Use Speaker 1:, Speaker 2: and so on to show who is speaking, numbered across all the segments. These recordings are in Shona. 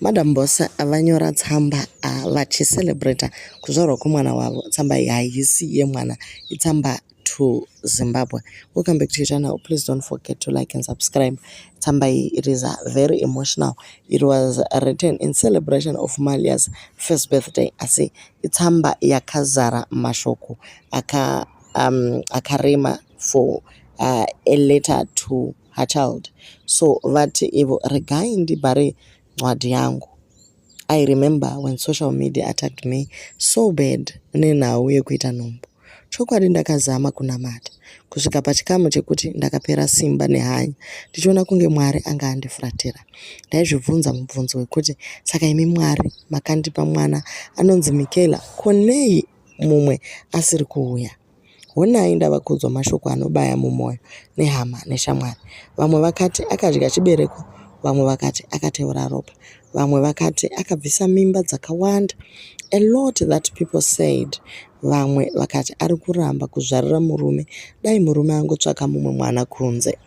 Speaker 1: Madam Boss vanyora tsamba vachicelebrata kuzvarwa kwemwana wavo. Tsamba iyi haisi yemwana, itsamba to Zimbabwe. Welcome back to your channel. Please don't forget to like and subscribe. Tsamba iyi it is very emotional. It was written in celebration of Malia's first birthday. Asi itsamba yakazara mashoko aka um, akarema for uh, a letter to her child so vati ivo regai ndibhare ncwadi yangu i remember when social media attacked me so bad nenhau yekuita nhumbu chokwadi ndakazama kunamata kusvika pachikamu chekuti ndakapera simba nehanya ndichiona kunge mwari anga andifuratira ndaizvibvunza mubvunzo wekuti saka imi mwari makandipa mwana anonzi mikela konei mumwe asiri kuuya Honai ndava kuudzwa mashoko anobaya mumwoyo nehama neshamwari. Vamwe vakati akadya chibereko, vamwe vakati akateura ropa, vamwe vakati akabvisa mimba dzakawanda, a lot that people said. Vamwe vakati ari kuramba kuzvarira murume, dai murume angotsvaka mumwe mwana kunze.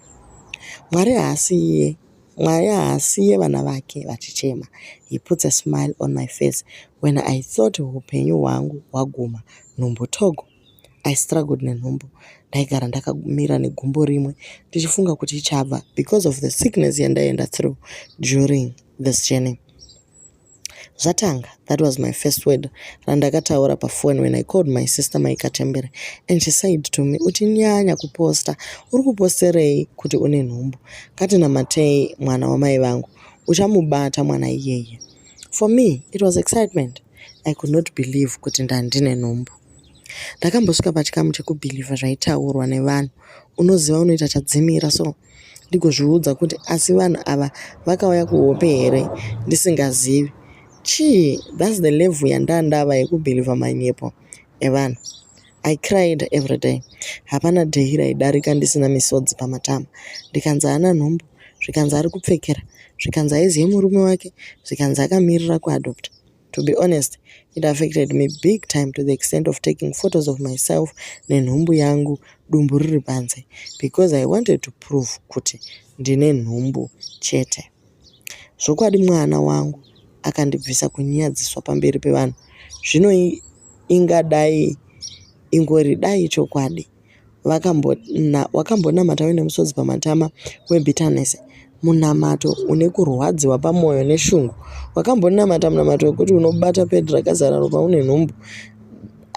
Speaker 1: Mwari haasi iye Mwari haasiye vana vake vachichema. He puts a smile on my face when I thought hupenyu hwangu hwaguma. Nhumbu Togo. I struggled nenhumbu. Ndaigara ndakamira negumbo rimwe ndichifunga kuti ichabva because of the sickness yandaenda through during this journey. Zvatanga, that was my first word randakataura paphone when I called my sister Mai Katembere and she said to me, utinyanya kuposta, uri kuposterei kuti une nhumbu? Katinamatei mwana wamai vangu, uchamubata mwana iyeye. For me, it was excitement. I could not believe kuti ndandine nhumbu. Ndakambosvika pachikamu chekubhilivha zvaitaurwa nevanhu, unoziva unoita chadzimira so ndigozviudza kuti asi vanhu ava vakauya kuhope here ndisingazivi chii thats the level yandandava yekubhilivha manyepo evanhu i cried every day hapana day raidarika ndisina misodzi pamatama ndikanzi haana nhumbu zvikanzi ari kupfekera zvikanzi aizive murume wake zvikanzi akamirira kuadopta To be honest, it affected me big time to the extent of taking photos of myself nenhumbu yangu dumbu riri panze because I wanted to prove kuti ndine nhumbu chete. Zvokwadi mwana wangu akandibvisa kunyadziswa pamberi pevanhu. Zvino ingadai ingori dai chokwadi wakambonamata uine musodzi pamatama webitterness munamato une kurwadziwa pamwoyo neshungu wakambonamata munamato wekuti unobata pedi rakazara ropa une nhumbu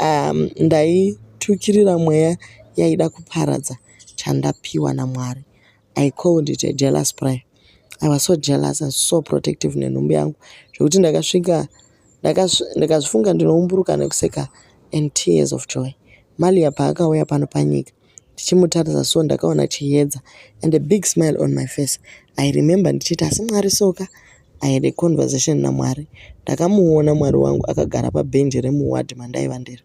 Speaker 1: um, ndaitukirira mweya yaida kuparadza chandapiwa namwari I called it a jealous prayer. I was so jealous and so protective nenhumbu yangu zvekuti ndakasvika ndakazvifunga ndinoumburuka nekuseka and tears of joy. Malia paakauya pano panyika ndichimutarisa so ndakaona chiyedza and a big smile on my face. I remember ndichiti asi Mwari soka I had a conversation naMwari. Ndakamuona Mwari wangu akagara pabhenji remuward mandaiva ndiri.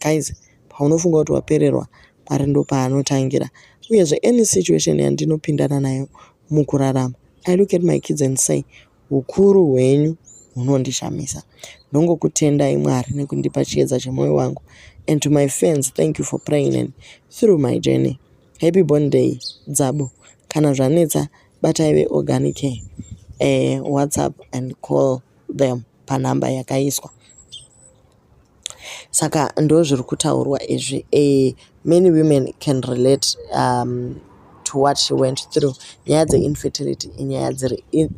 Speaker 1: Guys, paunofunga kuti wapererwa Mwari ndopaanotangira uyezve any situation yandinopindana nayo mukurarama I look at my kids and say hukuru hwenyu hunondishamisa ndongokutendai Mwari nekundipa chiedza chemoyo wangu and to my fans thank you for praying and through my journey happy born day dzabo kana zvanetsa batai veorganic eh, whatsapp and call them panhamba yakaiswa Saka ndozviri kutaurwa izvi eh, many women can relate um, to what she went through nyaya dzeinfertility inyaya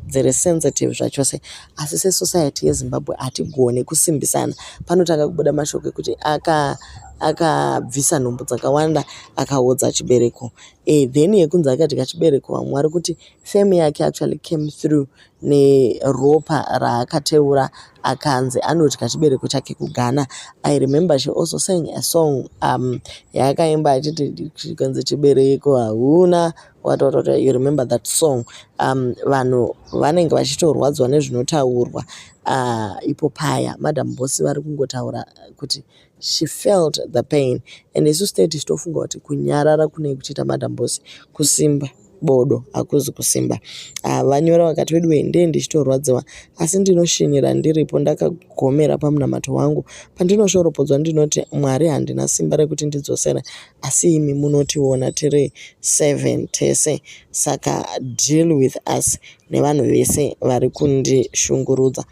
Speaker 1: dziri sensitive zvachose asi sesociety yezimbabwe hatigone kusimbisana panotanga kubuda mashoko ekuti aka akabvisa nhumbu dzakawanda akaodza chibereko e, then yekunzi akadya chibereko vamwe vari kuti fame yake actually came through neropa raakateura akanzi anodya chibereko chake kughana i remember she also sang a song um yaakaimba achiti chikanzi chibereko hauna watotota you remember that song um vanhu vanenge vachitorwadziwa nezvinotaurwa uh, ipo paya madam bosi vari kungotaura kuti She felt the pain and isu state tichitofunga kuti kunyarara kunei kuchiita madam boss kusimba bodo hakuzi kusimba ah, vanyora vakati wedu wendee ndichitorwadziwa asi ndinoshinyira ndiripo ndakagomera pamunamato wangu pandinoshoropodzwa ndinoti mwari handina simba rekuti ndidzosere asi imi munotiona tiri seven tese saka deal with us nevanhu vese vari kundishungurudza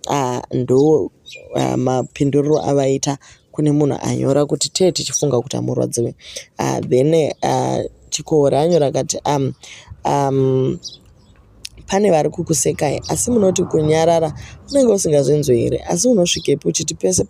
Speaker 1: Ah, ndo ah, mapinduriro avaita kune munhu anyora kuti tee tichifunga kuti amurwadziwe ah, then ah, chikohori anyora kati um, um, pane vari kukusekai asi munoti kunyarara unenge usingazvinzwe here asi unosvikepi uchiti pese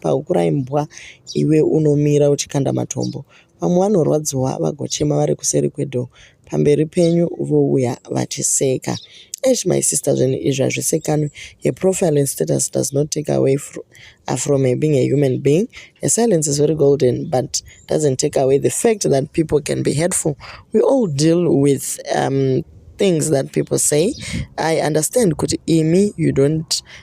Speaker 1: pahukurai mbwa iwe unomira uchikanda matombo Vamwe vanorwadziwa vagochema vari kuseri kwedoor pamberi penyu vouya vachiseka. Eish my sister zvinhu izvi hazvisekanwi. Her profile and status does not take away fro uh, from her being a human being. Her silence is very golden but doesn't take away the fact that people can be hurtful. We all deal with um, things that people say. I understand kuti imi you don't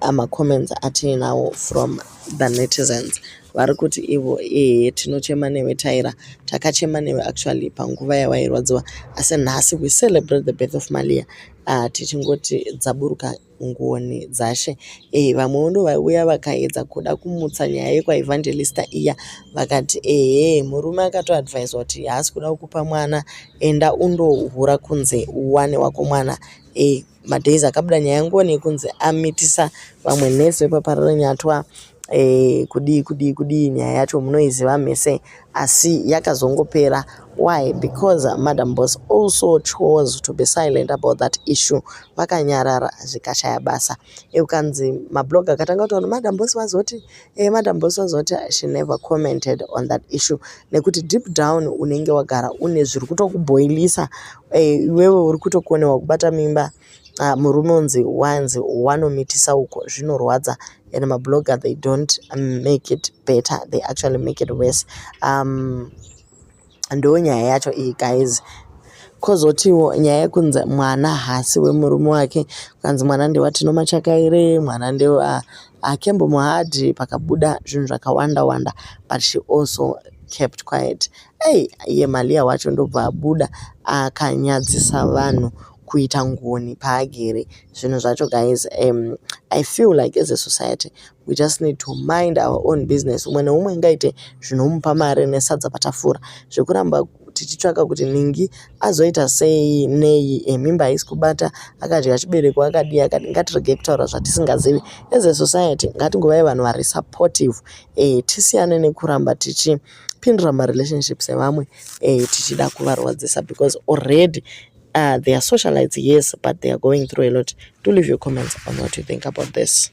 Speaker 1: ama comments atiinawo from the netizens vari kuti ivo ehe tinochema newe taira takachema newe actually panguva yawairwadziwa asi nhasi we celebrate the birth of malia uh, tichingoti dzaburuka ngoni dzashe e, vamwewo ndo vaiuya vakaedza kuda kumutsa nyaya yekwaevangelista iya vakati ehe murume akatoadvisa kuti haasi kuda kukupa mwana enda undohura kunze uwane wako mwana e, madays akabuda nyaya ngoni yekunzi amitisa vamwe nurse vepapararanyatwa e, eh, kudii kudii kudii nyaya yacho munoiziva mese asi yakazongopera why because madam boss also chose to be silent about that issue vakanyarara zvikashaya basa e, ukanzi mablog akatanga kutaura madam boss vazoti Eh, madam boss vazoti she never commented on that issue nekuti deep down unenge wagara une zviri kutokuboilisa eh, iwewe uri kutokonewa kubata mimba uh, murume unzi wanzi wanomitisa uko zvinorwadza and mablogger they don't make it better they actually make it worse um, Ndo nyaya yacho iyi guys. Kozotiwo nyaya yekunzi mwana hasi wemurume wake kanzi mwana ndewatino machakaire mwana ndewa akembo muhadhi pakabuda zvinhu zvakawanda wanda but she also kept quiet ei iye malia wacho ndobva abuda akanyadzisa vanhu kuita ngoni paagere zvinhu zvacho guys um, i feel like as a society we just need to mind our own business umwe neumwe ingaite zvinomupa mari nesadza patafura zvekuramba tichitsvaka kuti ningi azoita sei nei eh, mimba haisi kubata akadya chibereko akadii akadi ngatirege kutaura zvatisingazivi as a society ngatingovai vanhu vari supportive e, tisiyane nekuramba tichipindura marelationships evamwe e, tichida kuvarwadzisa because already uh, they are socialites yes but they are going through a lot do leave your comments on what you think about this